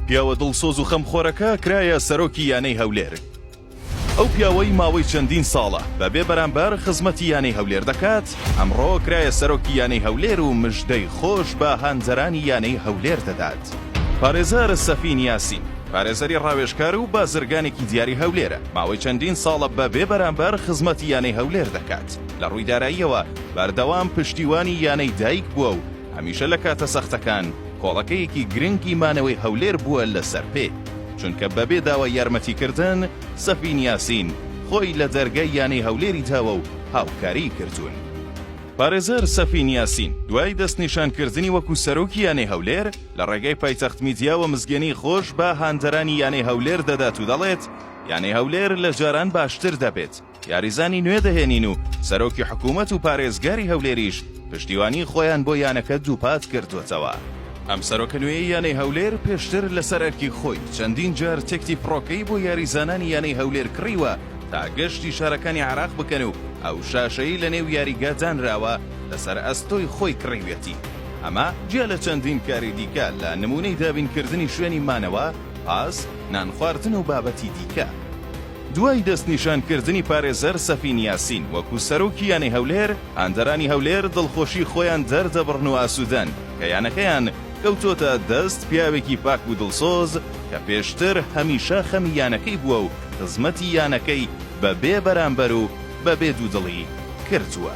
پیاوە دڵسۆز و خەمخۆرەکە کرایە سەرۆکی یانەی هەولێر. ئەو پیاوەی ماوەی چەندین ساڵە بە بێ بەرامبەر خزمەتی یانەی هەولێر دەکات، ئەمڕۆ کرایە سەرۆکی یانەی هەولێر و مژدەی خۆش بە هاندەرانی یانەی هەولێر دەدات. پارێزەر سەفین یاسین، پارێزەری راوێژکار و بازرگانێکی دیاری هەولێرە، ماوەی چەندین ساڵە بە بێ بەرامبەر خزمەتی یانەی هەولێر دەکات، لە رووی داراییەوە بەردەوام پشتیوانی یانەی دایک بووە و هەمیشە لە کاتە سەختەکان کۆڵەکەیەکی گرنگی مانەوەی هەولێر بووە لەسەر پێ، چونکە بەبێ داوای یارمەتیکردن، سەفین یاسین خۆی لە دەرگای یانەی هەولێری داوە و هاوکاریی کردوون. پارێزەر سەفین یاسین دوای دەستنیشانکردنی وەکو سەرۆکی یانەی هەولێر، لە ڕێگای پایتەخت میدیاوە مزگێنیی خۆش بە هاندەرانی یانەی هەولێر دەدات و دەڵێت، یانەی هەولێر لە جاران باشتر دەبێت، یاریزانی نوێ دەهێنین و سەرۆکی حکوومەت و پارێزگاری هەولێریش پشتیوانیی خۆیان بۆ یانەکە دووپات کردووەتەوە. ئەم سەرۆکە نوێیەی یانەی هەولێر پێشتر لەسەر ئەرکی خۆی چەندین جار تکتی فڕۆکەی بۆ یاریزانانی یانەی هەولێر کڕیوە تا گەشتی شارەکانی عێراق بکەن و ئەو شاشەی لەنێو یاریگا دانراوە لەسەر ئەستۆی خۆی کڕیویەتی ئەمە جیا لە چەندین کاری دیکە لە نموونەی دابینکردنی شوێنی مانەوە، پاس، نانخواردن و بابەتی دیکە. دوای دەستنیشانکردنی پارێزەر سەفین یاسین وەکو سەرۆکی یانەی هەولێر، هاندەرانی هەولێر دڵخۆشی خۆیان دەردەبڕن و ئاسودەن کە یانەکەیان کەوتۆتە دەست پیاوێکی پاک و دڵسۆز کە پێشتر هەمیشە خەمی یانەکەی بووە و خزمەتی یانەکەی بە بێ بەرامبەر و بە بێ دوودڵی کردووە.